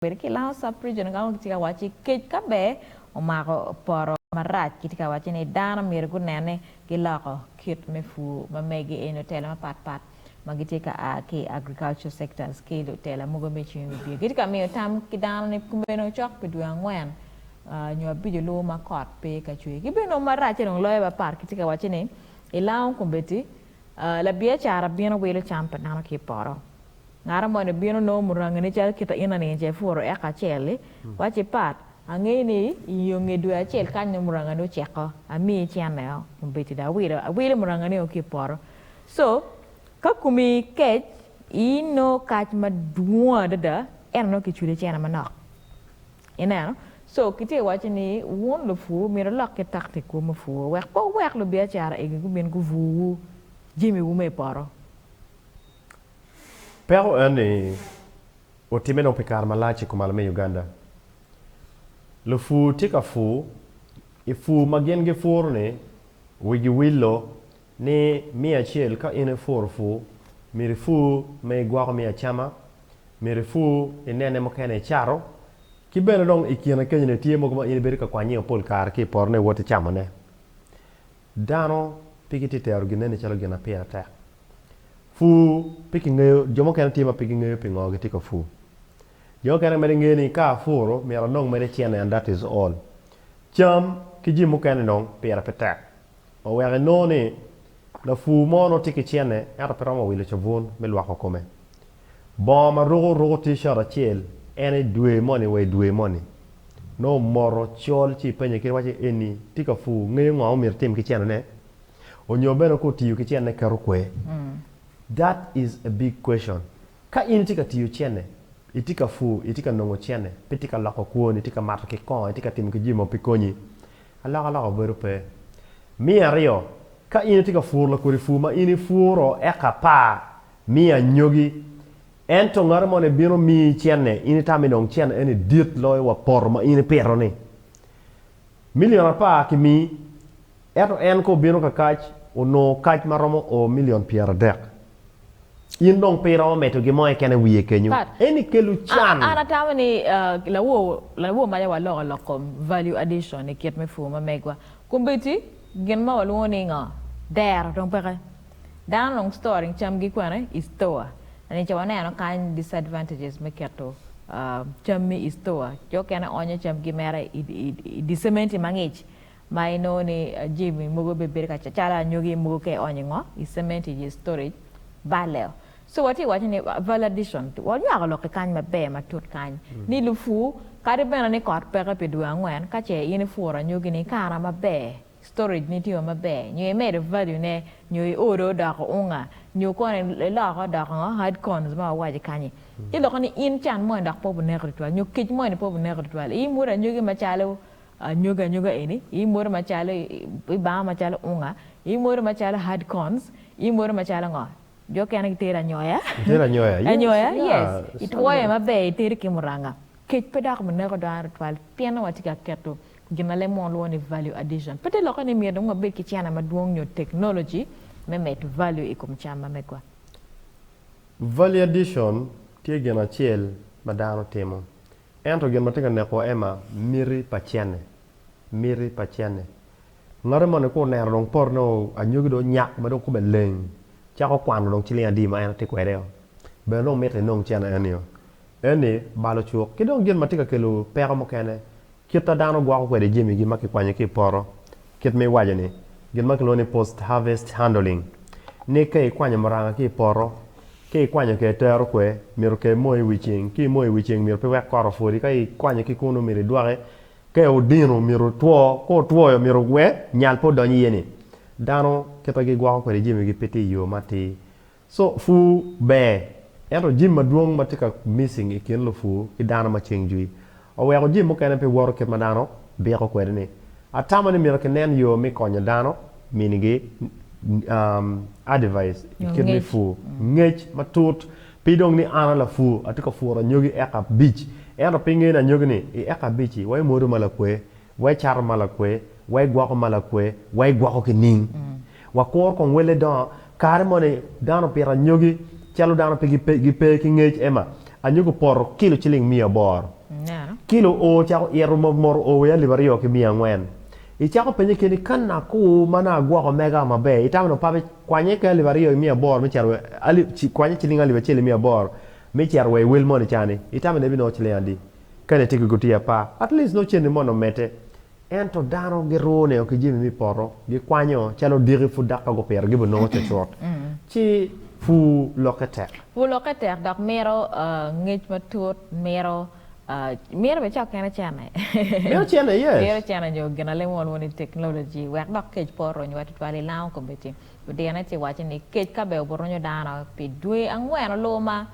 Bedo ki Laos Sub-Region ka kitye ka waco ni kec ka be omako poto marac kitye ka waco ni dano myero gunen ni giloko kit me pur ma megi eni lutela mapat pat ma gitye ka a ki i agricultural sectors ki lutela mogo me cwiny wibye gitye ka miyo tam ki dano ni kumeno cok pi dwe angwen nyo abico luwo ma kot pe ka cwer ki bene nongo maracce dong loyo mapat kitye ka waco ni i Laos Combeti labiacara bino wilo cam pa dano ki i poto. Ngara moni ebino nongo murangini calo kita ina nining ce ipuro eka acel li? Wac i pat, Angeyo ni i yo nge dwe acel kany nongo murangani oceko, amiyo icenne o, ombedo dong awilo, awilo murangani o ki i poto. So, ka komi kec, ino kac madwong adada, ento nongo kicudo icene manok. Ineno? So, kitye ka waco ni wun lupur myero wulok ki taktikwu me pur wek pe wuwek lubiacara egi gubin gubuwu jamiwu me i poto. Peko en ni otimme dong pi kare malac i kumalo me Uganda. Lupur tye ka pur, i pur ma gin gipuro ni wigi willo ni miya acel ka in ipuro pur myero ipur me igwoko me acama, myero ipur inene mukene icato ki bene dong i kine kenyo ni tye mogo ma in ibedo ka kwanye-o pol kare ki i poto-ne iwoti camone. Dano pe gitye ka tero ginneni calo gin ma pire tek. Pur pe kingeyo, jo mukene tye ma pe gingeyo pingo gitye ka pur. Jo mukene mere ngeyo ni ka apuro myero anong mere cene and that is all. Cam ki jami mukene dong pire pe tek ma wek inongo ni lapur mo nongo tye ki cene ento pe romo wilo cabun me lwoko kome. Bongo ma ruko oruko T-shirt acel en i dwe moni wa i dwe moni. Nongo omoto col ci penye kit wacce eni tye ka pur ngeyo ngo ma omyero etim ki cene ne onyo bene ko otiyo ki cene keto kwe? That is a big question. Ka in itye ka tiyo cene, itye ka pur, itye ka nongo cene, pe itye ka loko kwoni, itye ka mato ki kongo, itye ka timo ki jami mogo pe konyi, alok alok obedo pe. Me aryo, ka in itye ka puro lakodi pur ma in ipuro eka apar, Mi anyogi. Ento ngati moni bino miyi cenne, in itami dong cen eni dit loyo wa poto ma in ipito-ni. Milion apar kimi, ento en ka obino kakac, onongo kac ma romo o milion pyeradek. In dong pe iromo medo gimo keken i wiye kenyo. Eni kelo can. An atamo ni lawo maca waloko lok kom value addition i kit me pur ma megwa. Kombeddi, gin ma walwongo ni ngo? Dero dong peke. Dano onongo storing camgi kwene i store. Eni ca waneno kany disadvantages me keto cammi i store. Jo okene onyo camgi mere i di cementi mangic ma inongo ni jami mogo bene bedo ka calo anyogi mogo ka ionyo ingo i cementi i storage balle o. So watye waco ni value addition wanywako lok ki kany maber matut kany ni lupur kadi bene ni kot peke pi dwe angwen kace in ipuro anyogi ni ikana maber storage ne tye o maber nyo imedo value ne nyo i order o doko unga nyo kono iloko doko ngo hard corns ma wawaco i kanyi ci loko ni in can moni dok pe obuneko tutwal nyo kec moni pe obuneko tutwal i mwodo anyogi macalo anyogi anyoga eni i mwodo macalo i banga macalo unga i mwodo macalo hard corns i mwodo macalo ngo jo okene gitero anyoya Itera anyoya yes anyoya yeah yes i sunrise twoyo maber itedo ki muranga kec pe dok buneko dano tutwal pienno watye ka keto Gin ma leb mo lwongo ni value addition pe te lokke ni myero dong wabed ki cene madwong nyo teknoloji me medo value i kom cam ma megwa. Value addition tye gin acel ma dano timo, ento gin ma tye ka neko aye ma miti pa cene, miti pa cene. Ngati moni ka oneno dong poti nongo anyogi dong onyak ma dong kome leng cako kwano dong ciling adi ma en tye kwede-o, bene dong miti inong cene eni-o. Eni balo cuk. Ki dong gin ma tye ka kelo peko mukene Kit ma dano gwoko kwede jamigi ma kikwanyo ki i poto, Kit ma iwaco ni, gin ma kilwongo ni post-harvest handling, ni ka ikwanyo muranga ki i poto, ka ikwanyo ka itero kwe, myero ka imoyo i wi ceng. Ka imoyo i wi ceng myero pe iwek kore opwodi. Ka ikwanyo ki kunu myero idwoke ka odino myero otwo. Ka otwoyo myero we nyal pe odony iye-ni. Dano kit ma gigwoko kwede jamigi pe tye i yo matir. Co pur ber, ento jim madwong ma tye ka missing i kin lupur ki dano ma ceng jwi oweko jim mukene pe woto kit ma dano biko kwede ni. Atamo ni myero kinen yo me konyo dano minigi advais i kit me pur, ngec matut pi dong ni an a lapur atye ka puro anyogi eka abic ento pinge ni anyogi ni i eka abic-ci wa imwodo ma lakwe Wa icato ma lakwe, wa igwoko ma lakwe, wa igwoko ki ning. Wa kuro kong welle dongo, kare moni dano opito anyogi calo dano pe gipe ki ngec ema, anyogi opoto kilo ciling miya aboro. Kilo o ocako ito mot mot o wiye alip aryo ki miya angwen. Icako penye keni ka nako ma nongo agwoko mega maber, itamo ni opabe kwanye ki alip aryo ki miya aboro me cito kwanye ciling alip acel ki miya aboro me cito wa iwel moni cani, itamo ni ebinongo ciling adi? Kadi tye ki gutiya apar, at least nongo cente mono omedde. Ento dano giruu ne o ki jami me poto, gikwanyo calo odiki pud dok ka gupito gibo nongo cutcut. Ci pur lokke tek. Pur lokke tek dok mito ngec matut, mito mito bene cok kene cene. Mito cene, yes. Mito cene nyo ginalemon mono i teknoloji wek dok kec pe oronywa tutwal i lango kombeddi. Odine ci waco ni, Kec ka be oburunyo dano pi dwe angwen olubo ma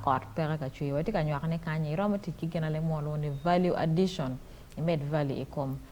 kot peke ka cwer, watye ka nywako ni kany-nyi iromo tic ki ginalim mo lwongo ni value addition, imed value i kom